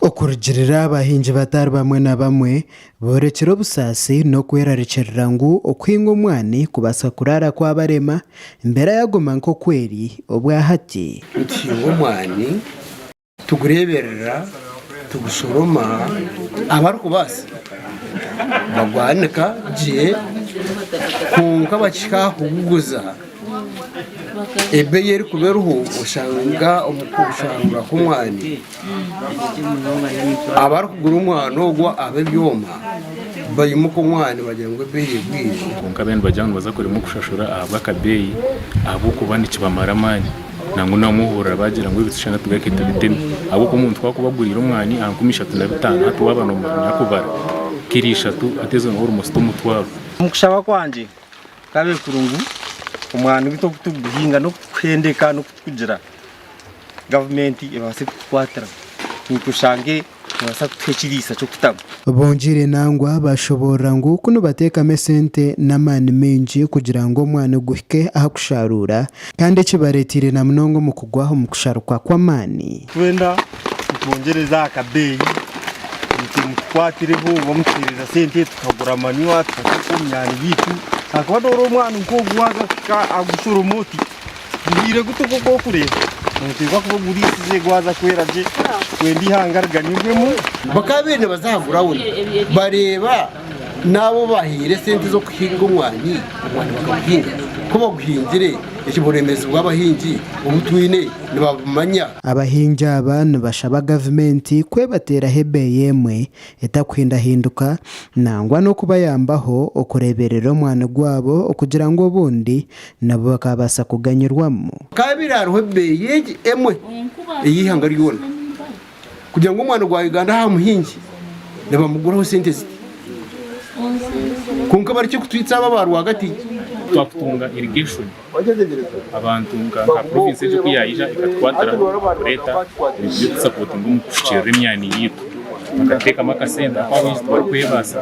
Okurugiirira abahingi batari bamwe na bamwe boorekire obusaasi n'okwerarikirira ngu okuhinga omwani kubaasa kuraara kwabarema, embeera yaaguma nk'oku eri obwahati. Nituhinga omwani, tugureeberera, tugushoroma, abarikubaasa bagwanika gye kwonka abakihika aha kuguguza. ebeeyi erikuba eriho oshanga omu kushangura kw'omwani abarikugura omwani ogwo ab'ebyoma baimuka omwani bagira ngu ebeeyi egwire. Kwonka ab'eyi nibagira ngu nibaza kuremwa kushashura ahabw'akabeeyi ahabw'okuba nikibamara amaani nangwa n'abamwe ohurira baagira ngu ebishushani tugareke tubiteme ahabw'okuba omuntu ku arikuba aguriire omwani aha nkumi ishatu na bitaano hati waaba noomanya kubara kiro ishatu hati ezo niho orimusya omutwaro. Omu kushaba kwangye Tukaabaire kurungu omwani gu tokutiguhinga nokuhendeka nokutukugira gavumenti ebaase kutukwatira niitwe oshange nebaasa kutuha ekiriisa kyokutamu. Bongiire nangwa bashoboorora ngu ku nibateekamu esente n'amaani maingi kugira ngu omwani guhike aha kushaaruura kandi ekibareeteire na munonga omu kugwa omu kusharukwa kw'amaani. Twenda nitwongyereza aha kabeeyi itwe mutukwatireho oba mutuheereza sente tukagura manywa tukateeka omu myaani yaitu ahakuba noora omwani nk'ogu waahika kugushoroma oti guhiire guta oku orikureeba nooteekwa kuba oguriisize gwaza kwera gye kwenda eihanga riganyirwemu. Bakaba baine baza aha gurawundi bareeba N'abu obaahaire esente z'okuhinga omwani, omwani bakaguhinga. Ku baguhingire, eki buremeezi bw'abahingi obu twine nibabumanya. Abahingi aba nibashaba gavumenti kwebateeraho ebeeyi emwe etakuhindahinduka nangwa n'okubayambaho okureeberera omwani gwabo okugira ngu obundi nabo bakaabaasa kuganyirwamu. Kaabaire hariho ebeeyi egi emwe ey'eihanga ryona. Kugira ngu omwani gwa Uganda aha muhingi nibamuguraho sente ziti. Kwonka bari ki kutwitsa aba ba rwagati? twakutunga irrigation abantu nka province egyo ku yaija ekatukwatiraho kureeta ebintu by'okutusapotinga omu kufukiirira emyani yaitu bakateekamu akasente ahakuba baingi tibarikwebaasa.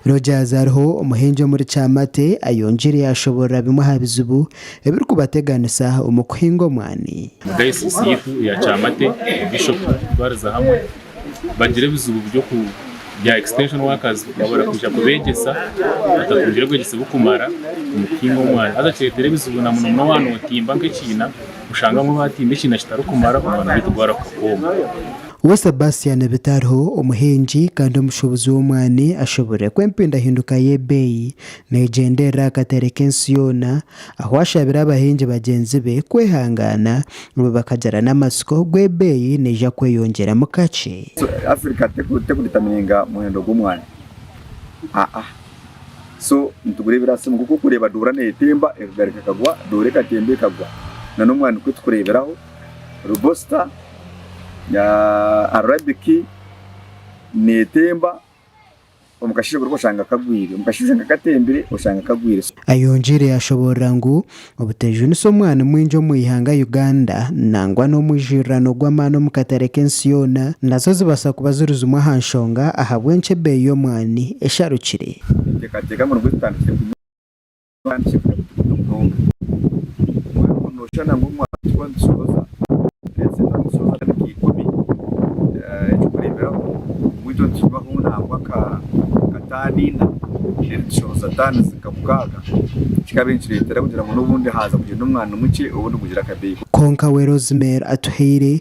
Rogers ariho omuhingi omuri Kyamate ayongiire yaashoboorora bimwe aha bizibu ebirikubateganisa omu kuhinga omwani. Dayosiisi yaitu eya Kyamate, Bishopu kutwariza hamwe bagira ebizibu bya extension workers babura kwija kubegyesa, batatungire bwegyese bukumara omu kuhinga omwani haza kiretera ebizibu na munomuno waaba notimba nk'ekiina oshanga abamwe batimba ekiina kitarikumara omwani gwaitu gwaruga kwooma. We Sebastian Bitariho, omuhingi kandi omushubuzi w'omwani ashuburire ku empindahinduka y'ebeeyi Neegyenderera aha kateere k'ensi yoona, ahu ashabire abahingi bagyenzi be kwehangaana nabo bakagira n'amatsiko ogu ebeeyi neija kweyongyeramu kakye. So Africa tekudetermininga muhendo gw'omwani aa so nitugura ebirasimu nkoku orikureeba doora neetemba ekagaari kakagwa doora ekatemba ekagwa nana omwani nikwo turikureeberaho robusta na arabic neetemba. Omukasheeshe kuruga oshanga kagwire. Omukasheeshe kushanga katembire oshanga kagwire. Ayongyire yashoboorora ngu obuteejunisa omwani mwingi omu eihanga Uganda nangwa n'omwijurirano gw'amaani omu katare k'ensi yoona nazo zibaasa kuba ziri zimwe aha nshonga ahabw'enki ebeeyi y'omwani esharukire. Ninteekateeka ngu nibwo tutandikire kunywa. kandi kibire bwine munonga. Obumwe oriho noshushana ngu omwahiki wa Ndushoboza aherezeho na Ndushoboza akandi ka ikumi. Ekyokureberaho, omwijo nikigwaho nangwa nka nka taani ina then Ndushoboza taani zi nka mukaaga kikabaire nikireetera kugira ngu n'obundi haaza kugyenda omwani mukye obundi gugira akabeeyi. Kwonka we Rosemary Atuhaire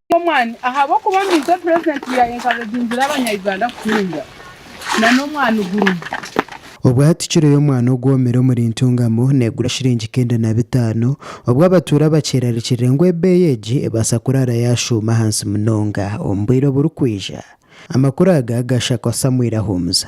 Omwani ahabw'okuba ninze purezidenti ya Enkabeginzire abanya Uganda kutunga na n'omwani gurumu. Obwo hati kiro y'omwani ogwomire omuri Ntungamo negura shiringi nkenda na bitaano, obwo abatuura bakyerarikirire ngu ebeeyi egi ebaasa kuraara yashuuma ahansi munonga omu bwire oburikwija. Amakuru aga gashakwa Samuel Ahumuza.